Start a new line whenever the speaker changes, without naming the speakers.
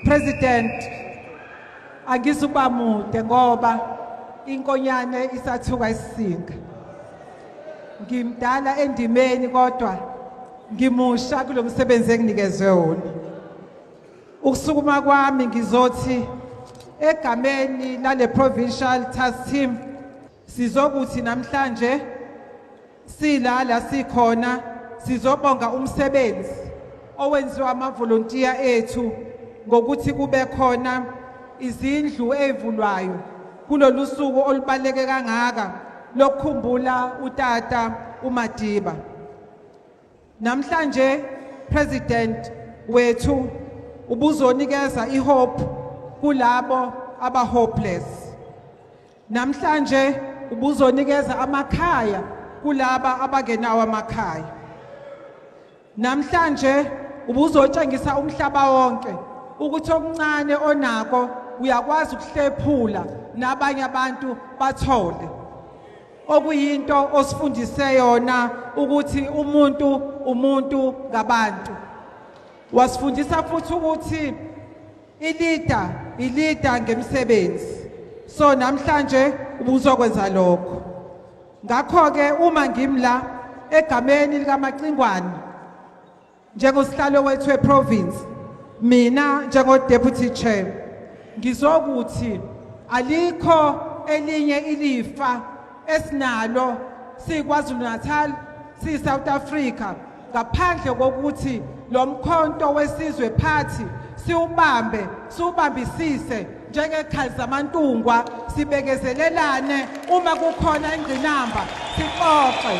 President angizuba mude ngoba inkonyane isathuka isisinga ngimdala endimeni kodwa ngimusha kulo msebenzi enginikezwe wona ukusukuma kwami ngizothi egameni lale provincial task team Sizokuthi namhlanje silala sikhona sizobonga umsebenzi owenziwa amavolontiya ethu ngokuthi kube khona izindlu ezivulwayo kulolu suku olubaleke kangaka lokukhumbula utata uMadiba namhlanje president wethu ubuzonikeza ihope kulabo abahopeless Namhlanje ubuzonikeza amakhaya kulaba abangenawo amakhaya. Namhlanje ubuzotshengisa umhlaba wonke ukuthi okuncane onako uyakwazi ukuhlephula nabanye abantu bathole okuyinto osifundise yona ukuthi umuntu umuntu ngabantu wasifundisa futhi ukuthi Ilida ilida ngemsebenzi. So namhlanje ubuzokwenza lokho. Ngakho ke uma ngimla egameni likaMacingwane njengosihlalo wethu weprovince mina njengodeputy chair ngizokuthi alikho elinye ilifa esinalo siKwaZulu-Natal siyi-South Africa ngaphandle kokuthi lo mkhonto wesizwe phathi siwubambe siwubambisise njengekhali zamantungwa sibekezelelane uma kukhona ingqinamba sixoxe